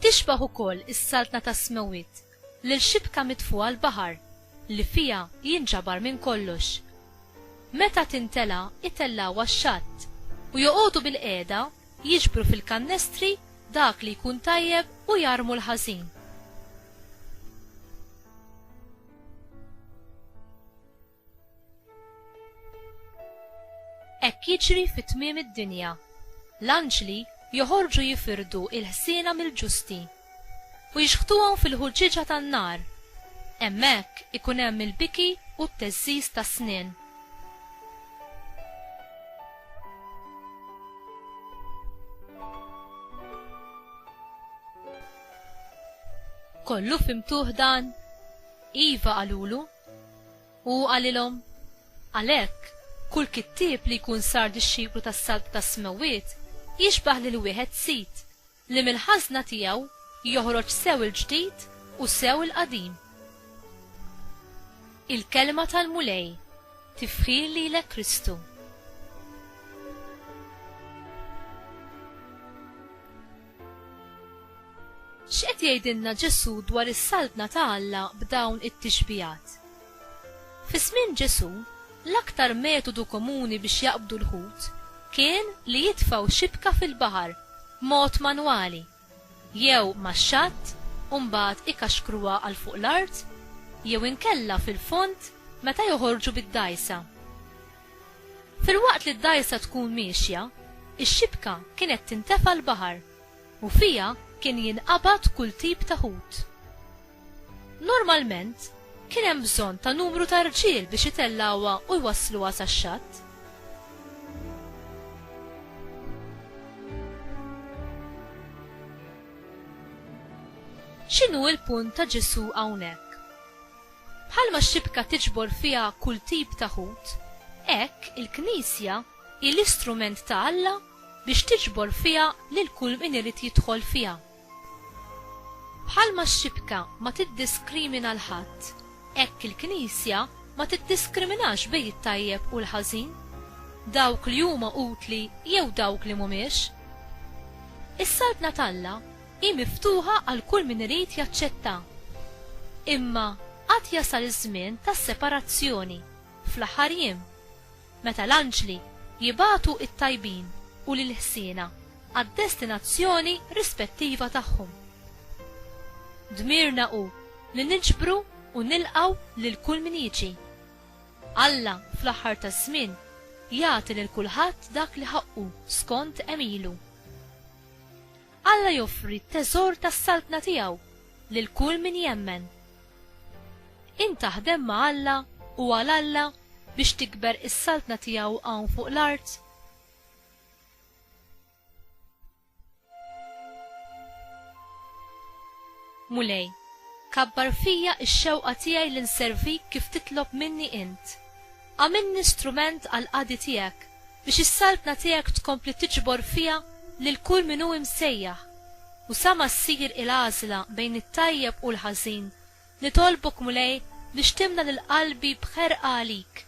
Tixbah ukoll is-saltna tas-smewwiet lil xibka mitfugħa l-baħar li fiha jinġabar minn kollox. Meta tintela' itellgħuha x-xatt u joqogħdu bilqiegħda Jiġbru fil-kannestri dak li jkun tajjeb u jarmu l-ħażin. Hekk jiġri fi tmiem id-dinja. L-anġli joħorġu jifirdu l-ħsiena mill-ġusti. u jixħtuhom fil-ħuġġieġa tan-nar. Hemmhekk ikun hemm il-biki u t-teżżiż tas-snien. Kollu fimtuh dan? Iva qalulu. U hu qalilhom, Għalhekk, kull kittieb li jkun sar dixxiplu tas-saltna tas-smewwiet jixbah lil wieħed sid. li mill-ħażna tiegħu joħroġ sew il-ġdid u sew il-qadim. Il-Kelma tal-Mulej, Tifħir lilek Kristu. X'qed jgħidilna Ġesù dwar is-Saltna ta' Alla b'dawn it-tixbihat? Fi żmien Ġesù, l-aktar metodu komuni biex jaqbdu l-ħut kien li jitfgħu xibka fil-baħar b'mod manwali, jew max-xatt u mbagħad ikaxkruha għal fuq l-art, jew inkella fil-fond meta joħorġu bid-dgħajsa. Filwaqt li d-dgħajsa tkun miexja, ix-xibka kienet tintefa' l-baħar, u fiha kien jinqabad kull tip ta' ħut. Normalment, kien hemm bżonn ta' numru ta' rġiel biex itellgħuha u jwassluha sax-xatt. X'inhu l-punt ta' Ġesù hawnhekk? Bħalma x-xibka tiġbor fiha kull tip ta' ħut, hekk il-Knisja hi l-istrument ta' Alla biex tiġbor fiha lil kull min irid jidħol fiha. Bħalma x-xibka ma tiddiskrimina l-ħadd, hekk il-Knisja ma tiddiskriminax bejn it-tajjeb u l-ħażin, dawk li huma utli jew dawk li mhumiex. Is-Saltna t'Alla hi miftuħa għal kull min irid jaċċettha. Imma għad jasal iż-żmien tas-separazzjoni, fl-aħħar jiem. meta l-anġli jibagħtu t-tajbin u lill-ħsiena għad-destinazzjoni rispettiva tagħhom. Dmirna hu li niġbru u nilqgħu lil kull min jiġi. Alla fl-aħħar taż-żmien jagħti lil kulħadd dak li ħaqqu skont għemilu. Alla joffri t-teżor tas-saltna tiegħu lil kull min jemmen Int taħdem ma' Alla u għal Alla biex tikber is-Saltna tiegħu hawn fuq l-art? Mulej, kabbar fija x-xewqa tiegħi li nservik kif titlob minni int. Agħmilni strument għall-qadi tiegħek, biex is-saltna tiegħek tkompli tiġbor fiha lil kull min hu imsejjaħ. U sa ma ssir il-għażla bejn it-tajjeb u l-ħażin, nitolbok, Mulej, biex timla lil qalbi b'ħerqa għalik,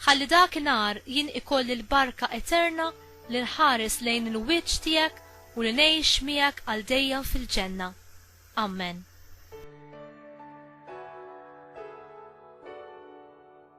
ħalli dak inhar jien ikolli l-barka eterna li nħares lejn il-wiċċ tiegħek u li ngħix miegħek għal dejjem fil-ġenna. Ammen.